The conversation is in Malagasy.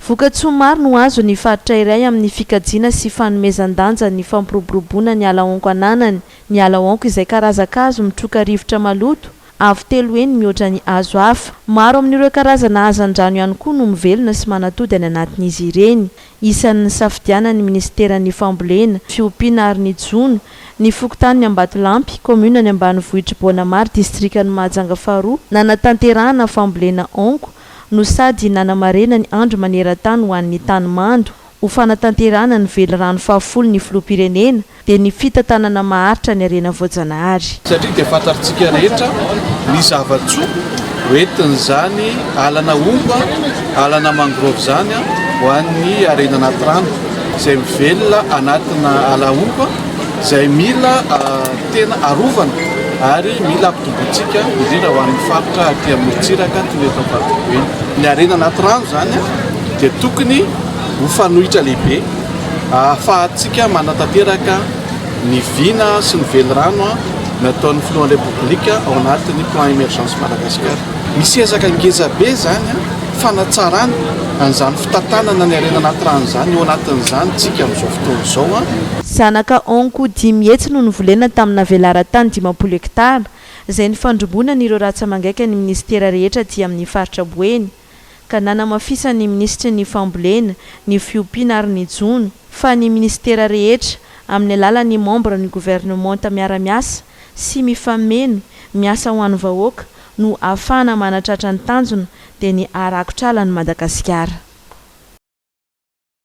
Vokatsoa maro no azo ny faritra iray amin'ny fikajiana sy fanomezan-danja ny fampiroboroboana ny ala honko ananany. Ny ala honko izay karazan-kazo mitroka rivotra maloto, avo telo heny mihoatra ny hazo hafa. Maro amin'ireo karazana hazan-drano ihany koa no mivelona sy manatody any anatin'izy ireny. Isan'ny nisafidianan'ny minisiteran'ny Fambolena, fiompiana ary ny jono, ny fokontanin'i Ambatolampy, kaominan'ny ambanivohitr'i Boanamary, distrikan'i Mahajanga faharoa, nanatanterahana fambolena honko, no sady nanamarena ny Andro maneran-tany ho an'ny tany mando ho fanatanterahana ny velirano fahafolo ny Filoham-pirenena dia ny fitantanana maharitra ny harena voajanahary. Satria dia fantatr'tsika rehetra ny zava-tsoa ho entin'izany alana ompa, alana mangrove izany ho an'ny harena anaty rano izay mivelona anatina ala ompa izay mila. Tena arovana ary mila ampitombointsika, indrindra ho an'ny faritra aty amorontsiraka toy ny eto Amparibe eny. Ny harena anaty rano izany dia tokony ho fanohitra lehibe ahafahantsika manatanteraka ny vina sy ny velirano nataon'ny filohan'ny Repoblika ao anatin'ny Plan Emergence Madagascar. Misy ezaka ngezabe izany. fanatsarana an'izany fitantanana ny harena anaty rano izany, eo anatin'izany isika amin'izao fotoana izao. Zanaka Honko dimy hetsy no novolena tamina velaran-tany dimampolo hektara, izay nifandrimbonan'ireo ratsa-mangaika ny minisitera rehetra aty amin'ny faritra Boeny, ka nanamafisan'ny minisitry ny Fambolena, ny Fiompiana ary ny Jono, fa ny minisitera rehetra, amin'ny alalan'ny membres ny gouvernementa miara-miasa sy mifameno, miasa ho an'ny vahoaka, no ahafahana manatratra ny tanjona dia ny haharakotra ala ny Madagasikara.